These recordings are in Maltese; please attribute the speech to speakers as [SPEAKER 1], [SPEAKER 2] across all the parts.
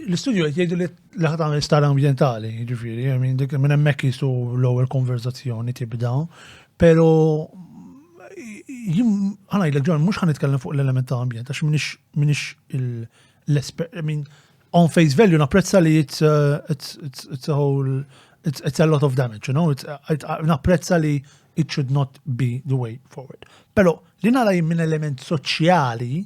[SPEAKER 1] L-istudju qed jgħidu li laħat għamil star ambjentali, ġifieri, minn hemmhekk jisu l-ewwel konverzazzjoni tibda, pero ħana jgħidlek ġon, mhux ħan nitkellem fuq l-element ta' ambjent, għax minix l-espert, min on face value napprezza li it's a whole, it's a lot of damage, you know, napprezza li it should not be the way forward. Pero Li nara jien minn element soċjali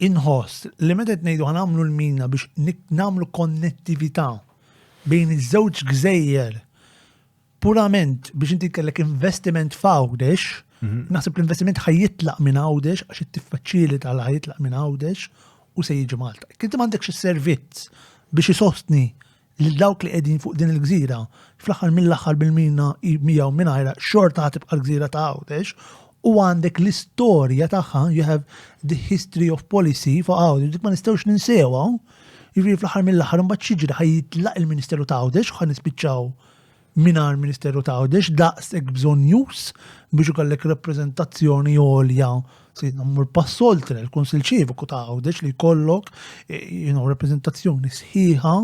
[SPEAKER 1] inħoss li meta qed ngħidu ħanamlu l-mina biex nagħmlu konnettività bejn iż-żewġ gżejjer purament biex inti kellek investiment f'Għawdex, mhm. naħseb l-investiment ħajjitlaq minn Għawdex għax it-tiffaċilita l ħajjitlaq minn Għawdex u se jiġi Malta. Kinti m'għandekx is-servizz biex isostni lil dawk li qegħdin fuq din il-gżira, fl-aħħar mill-aħħar bil-mina hi miegħu mingħajrha xorta ħa tibqa' l-gżira ta' Għawdex, u għandek l-istorja tagħha, you have the history of policy fuq Għawdex, dik ma nistgħux ninsewha, jiġifieri fl-aħħar mill-aħħar imbagħad xiġri ħaj jitlaq il-Ministeru ta' Għawdex u ħa nispiċċaw mingħajr Ministeru ta' Għawdex daqshekk bżonnjuż biex ikollek rappreżentazzjoni għolja sidna mmur pass oltre l-Kunsil Ċiviku ta' Għawdex li jkollok eh, rappreżentazzjoni sħiħa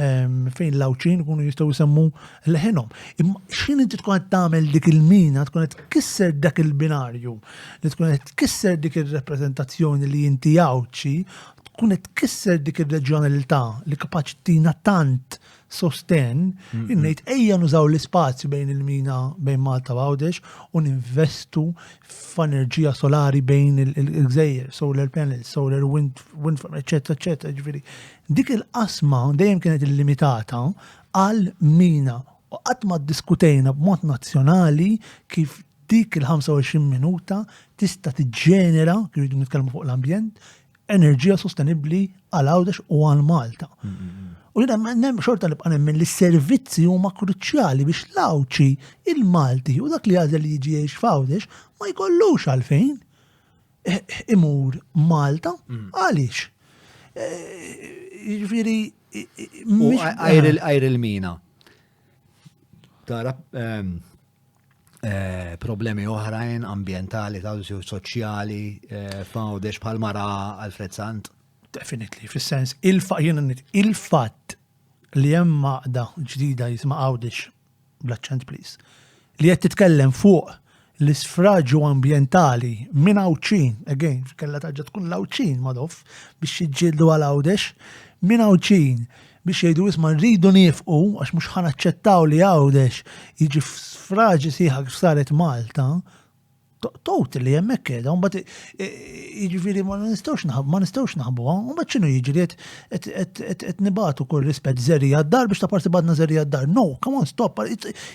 [SPEAKER 1] ehm, fejn l-għawċin kunu jistgħu jsemmu leħinhom. Imma x'in inti tkun qed tagħmel dik il-mina, tkun qed tkisser dak il-binarju, li tkun qed tkisser dik ir-rappreżentazzjoni li inti għawċi, tkun qed tkisser dik ir-reġjonalità li kapaċi tina tant sostenn, innejt ejja nużaw l-ispazju bejn il-mina bejn Malta u Għawdex u ninvestu f'enerġija solari bejn il-gżejjer, solar panels, solar wind, wind farm, eccetera, eccetera, ġviri. Dik il-qasma dejjem kienet illimitata għal mina u qatt ma diskutejna b'mod nazzjonali kif dik il-25 minuta tista' tiġġenera, kif nitkellmu fuq l-ambjent, enerġija sostenibbli għal Għawdex u għal Malta. U jina nem xorta li bqanem minn li servizzi huma kruċjali biex l-Għawdxi, il-Malti u dak li għazel li jiġi jiex f'Għawdex ma jkollux għalfejn eh, imur Malta mm. għaliex. Eh, Ġviri. Għajr
[SPEAKER 2] il-mina. tara ehm, eh, problemi oħrajn ambientali, ta' soċjali, eh, f'għawdex bħal mara Alfred Sant. Definitely, fis-sens
[SPEAKER 1] il-fatt li hemm maqda ġdida jisma' għawdex bl-aċċent please li qed titkellem fuq l-isfraġu ambjentali minn Għawdxin, again, kellha terġa' tkun l-Għawdxin Madoff biex jiġġieldu għal Għawdex, minn Għawdxin biex jgħidu isma' rridu niefqu għax mhux ħa naċċettaw li Għawdex jiġi f'sfraġi sħiħa kif saret Malta, totally hemmhekk qiegħda, mbagħad jiġifieri ma nistgħux naħbu, ma nistgħux naħbuha, mbagħad x'inhu jiġri qed nibatu kull rispett żerri għad-dar biex ta' parti badna żerri għad-dar. No, come on, stop,